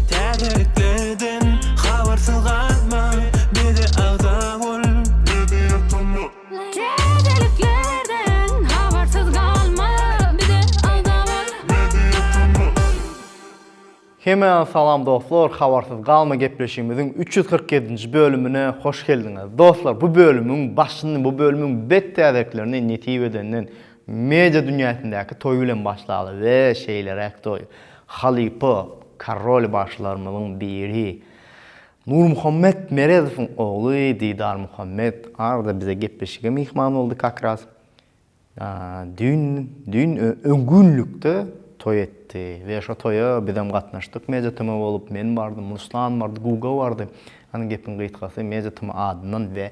Täzeliklerden habarsyz galma, bize agza bol. Täzeliklerden habarsyz galma, bize agza bol. Hemä salam dostlar, Habarsyz galma gepleşigimiziň üç ýüz kyrk ýedinji bölümine hoş geldiňiz. Dostlar, bu bölümiň başyny, bu bölümiň bet täzeliklerini nesip edenden Media dünýäsindäki toý bilen başlaly we şeýleräk toý. Halypa Korol bagşylarymyzyň biri Nurmuhammet Meredowyň ogly Didar Muhammet arada bize gepleşige myhman boldy kakras. Düýn düýn öňgünlikde toý etdi we şo toýa bizem gatnaşdyk Media TM bolup men bardym, Ruslan bardy, Guga bardy. Hany gepiň gysgasy Media TM adyndan we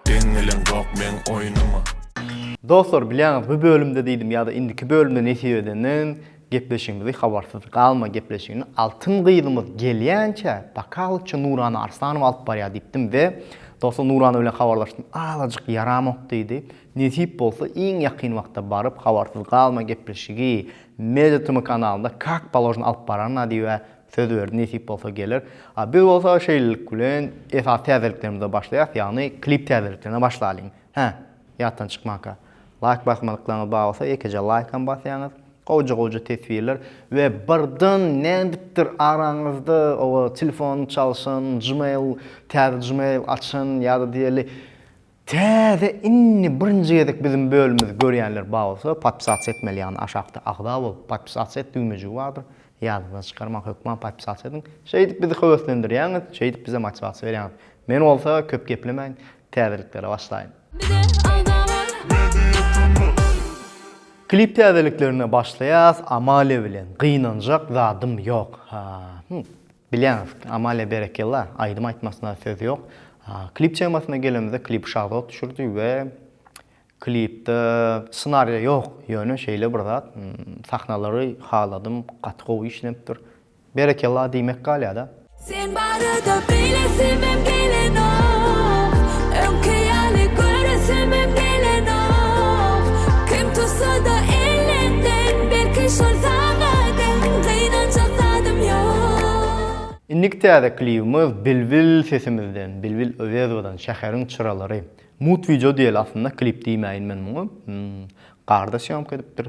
Deň gelen zok meň oýnuma. Dostlar bilýäňiz bu bölümde diýdim ýa-da indiki bölümde nesip edende gepleşigimizi habarsyz galma gepleşigini altyn gyzymyz gelýänçä bakalykça Nurana Arslanowa alyp barýar diýipdim we dostlar Nurana bilen habarlaşdym azajyk ýaramok diýdi nesip bolsa iň ýakyn wagtda baryp habarsyz galma gepleşigi Media TM kanalynda kak položno alyp bararna diýip Söz berdi, nesip bolsa geler. A biz bolsa şeýlelik bilen esasy täzeliklerimize başlaýas, ýagny klip täzeliklerine başlalyň. Hä, ýatdan çykmanka. Laýk basmadyklaryňyz bar bolsa ýekeje laýkam basýaňyz. Gowja-gowja teswirler we birden nädipdir araňyzda oba telefon çalşan, gmail, täze gmail açan ýa-da diýeli Täze indi birinji gezek biziň bölümimizi görýänler bar bolsa podpisasiýa etmeli ýagny aşakda agza bol podpisasiýa et düwmejigi bardyr ýadyňyzdan çykarmaň hökman podpisasiýa ediň şeýdip bizi höweslendirýäňiz şeýdip bize motiwasiýa berýäňiz men bolsa köp geplemäýin täzeliklere başlaýyn. Klip täzeliklerine başlaýas Amalia bilen gynanjak zadym ýok haa. Bilýäňiz, Amalia berekella, aýdym aýtmasyna söz ýok. Klip temasyna gelemizde klipi Şahzod düşürdi we klipde ssenariýa ýok, ýöne şeýle bir zat, sahnalary haladym, gaty gowy işlenipdir. Berekella diýmek galýada. Sen barada beýlesimem gelenok, Öňki ýaly göresimem gelenok, Kim tutsada elinden belki şol saňa deň, Gynanjak zadym Indiki täze klibimiz Bilbil sesimizden, Bilbil Öwezowadan Şäheriň çyralary. Mut wideo diýeli aslynda, klip diýmäýin men muňa. Garda sýomka edipdir.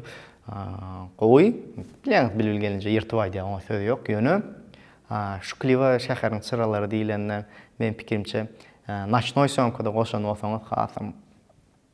Gowy. Bilýäňiz Bilbil gelinje ýyrtyp aýdýar, oňa söz ýok. Ýöne şu kliba Şäheriň çyralary diýlende, meniň pikirimçe, noçnoý sýomkada goşan bolsaňyz hasam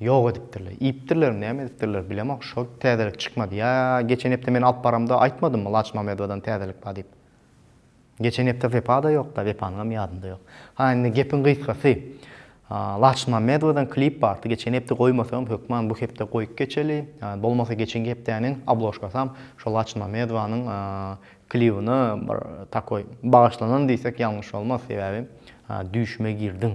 Ýok edipdirler. Iýipdirlermi, näme edipdirler, bilemok, şol täzelik çykmady. Ýa geçen hepde men alyp baramda aýtmadymmy Laçmamedowadan täzelik bar diýip. Geçen hepde Wepa-da ýok-da, Wepanyňam ýadynda ýok. Ha, indi gepiň gysgasy, Laçmamedowadan klip bardy, geçen hepde goýmasaňam, hökman bu hepde goýup geçeli. Bolmasa geçenki hepdäniň obložkasam şo Laçmamedowanyň klibine bir takoý bagyşlanan diýsek ýalňyş bolmaz, sebäbi düýşüme girdiň.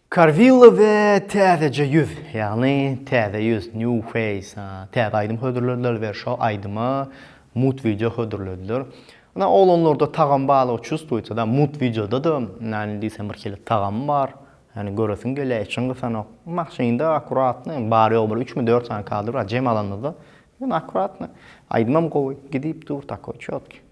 Karwilla we Täzeje ýüz, ýagny Täze ýüz, New Face, täze aýdym hödürlediler we şo aýdyma mut wideo hödürlediler. Ynha, oglanlarda tagam balygy çustwuýsa da, mut wideoda-da näme diýseň birhili tagamy bar. Ýagny göresiň gelýär, içiň gysanok. Maşynda akkuratno, bary-ýogy bir üçmi, dört sany kadr bar, jem alanymyzda. Ýöne akkuratno. Aýdymam gowy, gidip dur, takoý, çotky.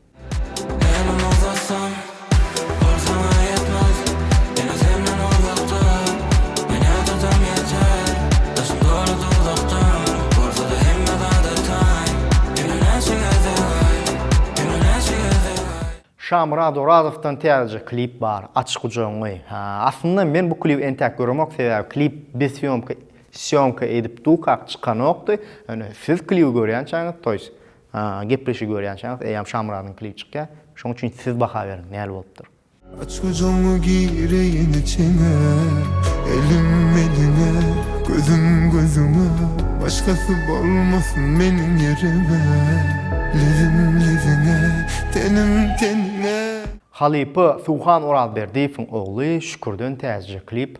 Şamyrat Orazowdan täzeje klip bar Aç gujagyňy Aslynda men bu klibi entäk göremok sebäbi klip biz sýomka sýomka edip dukak çykanokdy ýöne siz klibi görýänçäňiz toýs Ha, gepleşigi görýänçäňiz, eýýäm Şamyradyň klibi çykýar. Şonuň üçin siz baha beriň, näl bolupdyr? Aç gözuňi gireýin içiňe, Elim eliňe, gözüm gözüňe, Başgasy bolmasyn meniň ýerime, Lezim leziňe, tenim teniňe. Halypa Suhan Orazberdiýewiň ogly Şükürden Täjije klip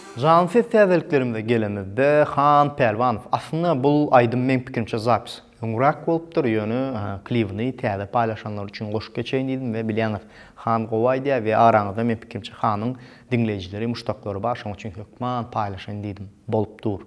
Janly ses täzeliklerimize gelenimizde Han Pälwanow aslynda bul aýdym meň pikirimçe zapis öňräk bolupdyr ýöne klibini täze paýlaşanlar üçin goşup geçeýin diýdim we bilýäňiz Han gowy aýdýar we araňyzda men pikirimçe Hanyň diňleýjileri muşdaklary bar şoň üçin hökman paýlaşaýyn diýdim bolup dur.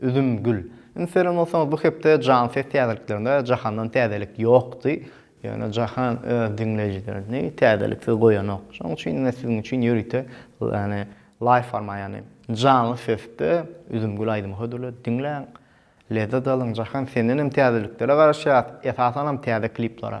Üzümgül. Indi seredip bolsaňyz bu hepde Jan ses täzeliklerinde Jahandan täzelik ýokdy. Ýöne Jahan öz diňleýjilerini täzeliksiz goýanok. Şonuň üçin ine siziň üçin ýörite ýagny laýw forma ýagny janly sesde Üzümgül aýdymy hödürledi. Diňläň. Lezzet alyň. Jahan sendenem täzeliklere garaşýas. Esasanam täze kliplere.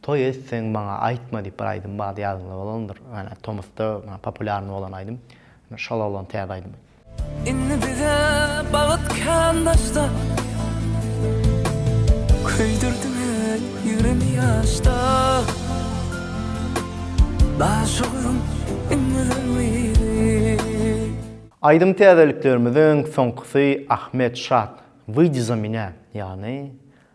Toý etseň maňa aýtma diýip bir aýdym bardy ýadyňda bolandyr ýöne tomusda populýarny bolan aýdym şol oglan täze aýdymy. Indi bize bagt kän daşda Köýdürdiň el ýügremi ýaşda Daşoguzym iňňeden gyzy. Aýdym täzeliklerimiziň soňkusy Ahmet Şat Wyjdi za minä ýagny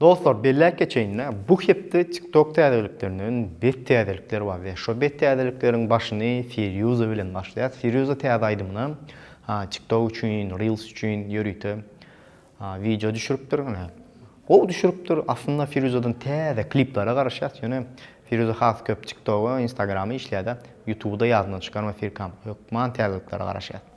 Dostlar belläp geçeýin-le, bu hepde TikTok täzeliklerinden bet täzelikler bar we şo bet täzelikleriň başyny Firýuza bilen başlaýas. Firýuza täze aýdymyna, ha TikTok üçin, Reels üçin ýörite wideo düşüripdir. Gowy düşüripdir. Aslynda Firýuzadan täze kliplere garaşýas, ýöne Firýuza has köp TikToga, Instagrama işleýär-de, Ýutuby-da ýadyndan çykarma Firkam. Hökman täzeliklere garaşýas.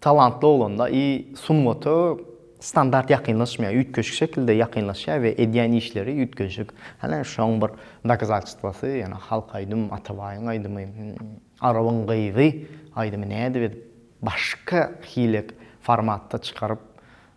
Talantly oglanda i sungata standart ýakynlaşmaýar, üýtgeşik şekilde ýakynlaşýar we edýän işleri üýtgeşik. Hany şoň bir dokazatstwasy, ýöne halk aýdym, Atabaýyň aýdymy, Arabyň gyzy aýdymy nädip edip başka hile formatda çykaryp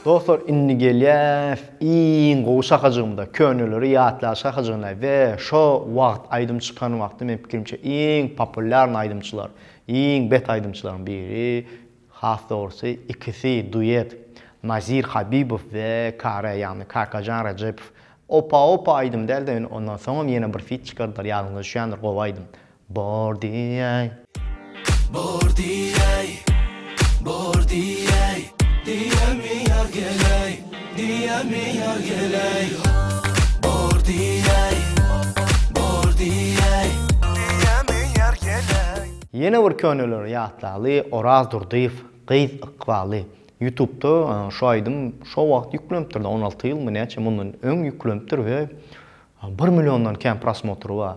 Dostlar indi gelýäs iň gowy şakajygymda köneleri ýatlaýyş şakajygyna we şo wagt aýdym çykan wagty meniň pikirimçe iň populýarny aýdymçylar iň bet aýdymçylaryň biri has dogrusy ikisi duet Nazir Habibow we Kare ýagny Kakajan Rajepow opa opa aýdym dälde indi ondan soňam ýene bir fit çykardylar ýadyňyza düşýändir gowy aýdym Bor diýäý. Bor diýäý. Bor diýäý. Diýämi ýar geläý. Diýämi ýar geläý. Bor diýäý. Bor diýäý. Diýämi ýar geläý. Ýene bir köneleri ýatlaly Oraz Durdyýew gyz ykbaly ýutubda şu aýdym şo wagt ýüklenipdirda on alty ýylmy näçe mundan öň ýüklenipdir we bir milliondan kän prosmotry bar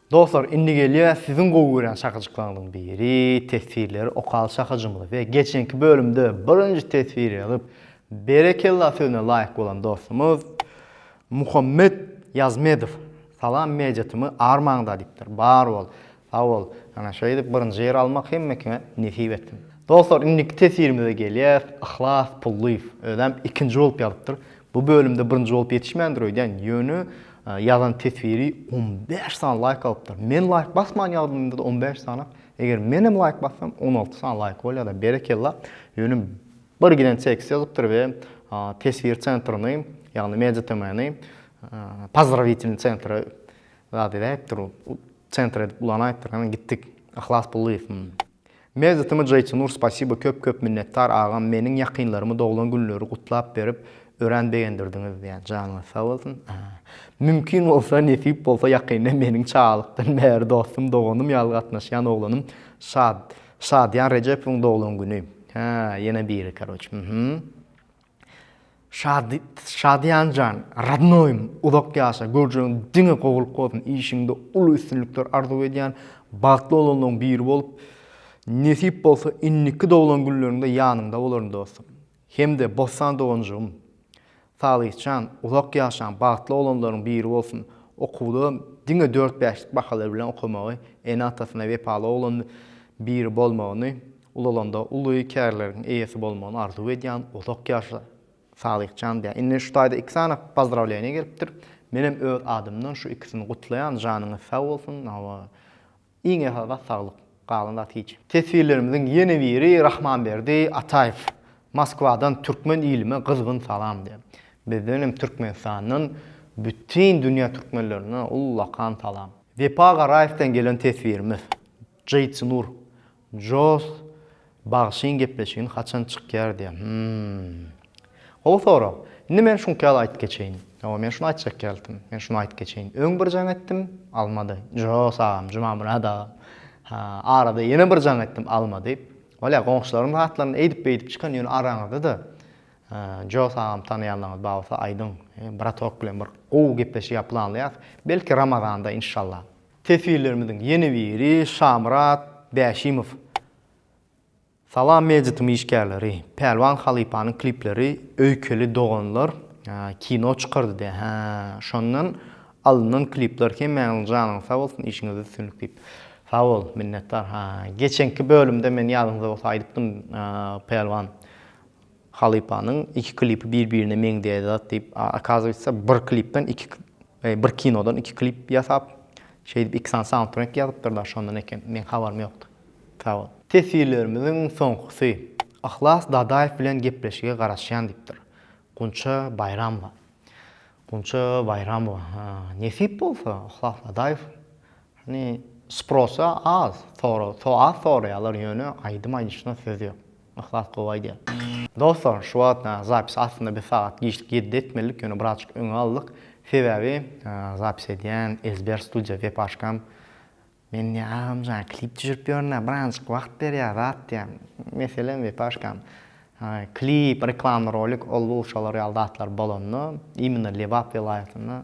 Dostlar indi gelýär siziň gowy görýän şakajyklaryňyzyň biri teswirleri okaly şakajymyzy we geçenki bölümde birinji teswiri ýazyp berekella sözüne laýyk bolan dostumyz Muhammet Ýazmedow Salam media tymy armaňda diýipdir bar bol sag bol ana şeýdip birinji ýeri almak hemmekiňe nesip etsin. Dostlar indiki teswirimize gelýäs Yhlas Pullyýew özem ikinji bolup ýazypdyr Bu bölümde birinji bolup ýetişmändir öýdýän, ýöne ýazan teswiri on bäş sany laýk alypdyr. Men laýk basman ýazanymda-da on bäş sany, eger men hem laýk bassam, on alty sany laýk bolýar-da, berekella. Ýöne bir giden tekst ýazypdyr we teswir sentrini, ýagny Media TM-ni Pozdravitelni sentra zat edäýipdir, sentr edip ulanaýypdyr, hany gitdik, Yhlas Pullyýew. Mewzutymyz Jaytunur spasibo köp köp minnetdar agam meniň ýakynlarymy doglan günleri gutlap berip örän begendirdiňiz ýa janyňyz sag bolsun mümkin bolsa nesip bolsa ýakynda meniň çagalykdan bäri dostum doganym ýaly gatnaşýan oglanym Şad Şadyýan Rejepowyň doglan güni hä ýene biri karoç hühüm. Şady Şadyýan jan radnoýym uzak ýaşa görjegiň diňe gowulyk bolsun işiňde uly üstünlikler arzuw edýän bagtly oglanlaň biri bolup nesip bolsa indiki doglan günleriňde ýanyňda bolaryn dostum hemde Bossan doganjygym Salyhjan uzak ýaşaň bagtly oglanlaryň biri bolsun okuwda diňe dört bäşlik bahalar bilen okamagy ene atasyna wepaly oglan biri bolmagyny Ulalanda uly kärleriň eýesi bolmagyny arzuw edýän uzak ýaşa Sadyhjan diýýän. Indi şu taýda iki sany pozdrawleniýa gelipdir. Menem öz adymdan şu ikisini gutlaýan janyňyz sag bolsun hawa iň esasy zat saglyk galan zat hiç. Teswirlerimiziň ýene biri Rahmanberdi Ataýew Moskwadan türkmen ilime gyzgyn salam diýýär. Bizden hem Türkmenistandan bütin dünýä türkmenlerine ullakan salam. Wepa Garaýewden gelen teswirimiz. Jyjnur. Joss bagşyň gepleşigini haçan çykýar diýýär. Hmmm. Gowy sorag. Indi men şuňky ýaly aýdyp geçeýin. Hawa men şuny aýtjak geldim. Men şuny aýdyp geçeýin. Öň bir jaň etdim, almady. Joss agam, Jumamyrat agam. Ha, arada ýene bir jaň etdim, almady. Bolýar, goňşularyň zatlaryny eýdip-beýdip çykan, ýöne araňyzda-da Joss agamy tanaýanlaryňyz bar bolsa aýdyň. Bratok bilen bir gowy gepleşik ýa planlaýarys. Belki Ramazanda, inşallah. Teswirlerimiziň ýene biri Şamyrat Bäşimow. Salam Mejitiň işgärleri. Pälwan halypanyň klipleri öýkeli doganlar kino çykardyda hä şondan alyndan klipler hemmäňiziň janyňyz sag bolsun işiňizde üstünlik diýip. Sag bol minnetdar ha geçenki bölümde men ýadyňyzda bolsa aýdypdym Pälwan halypanyň iki klipi bir birine meňzeýär zat diýip a okazywatsa bir klipden iki Bir kinodan iki klip ýasap, şeýdip iki sany saundtrek ýazypdyr daş ondan eken, meň habarym ýokdy. Sag bol. Teswirlerimiziň soňkusy. Yhlas Dadaýew bilen gepleşige garaşýan diýipdir. Gunça Baýramowa. Gunça Baýramowa. Ha, nesip bolsa, Yhlas Dadaýew. Hani, sprosa az, so-az soraýarlar, ýöne aýdym aýdyşyna söz ýok. Yhlas gowy aýdýar. Dostlar şu wagt zapis aslynda bir sagat giçlik ýedide etmelidik ýöne birazjyk öňe aldyk sebäbi zapis edýän ezber studiýa web aşkam men diýýär agamjan klip düşürip ýörünä birazjyk wagt ber ýa zat diýýär meselem web aşkam klip reklamny rolik ol bu şolar ýaly zatlar bolanda imенно lebap welaýatynda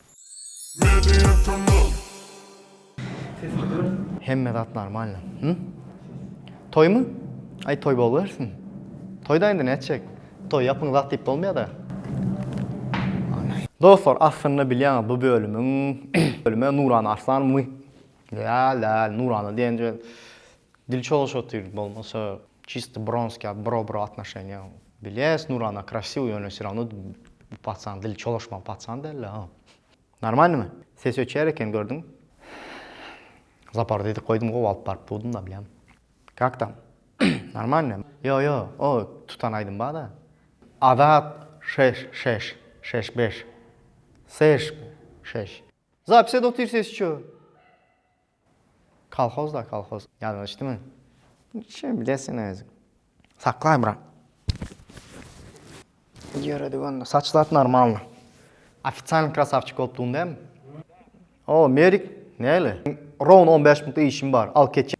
Hemme zat normalno hum Toýmy Aý toý boluwersin Toýda indi nätjek Toý ýapyň zat diýip bolmaýada Dostlar aslynda bilýäňiz bu bölümiň bölüme Nurana Arslan my däl däl Nurana diýenje Dil çalyşyp otyr bolmasa çisto bronskiý bro-bro atnoşeniýa bilýäs nurana krasiw ýöne se rawno bu paçan dil çalyşmaly paçan dälda ha normalnymy ses öçýär eken gördüň zaparda edip goýdum gowy alyp baryp dudumda bilýän kak tam normalnymy ýo ýo o tutan aýdym barda azat şeş şeş şeş beş seş şeş. Zapis et otyr ses ço. Kolhoz da kolhoz ýadyňa düşdümi? Şem bilen sen özüň. Saklaý bura. Ýöredik onda. Saçlat normalny. Ofitsialny krasavçik bolup dugdum dämi? O, Merik, näle? Rown on bäş minutda işim bar. Al ketjek.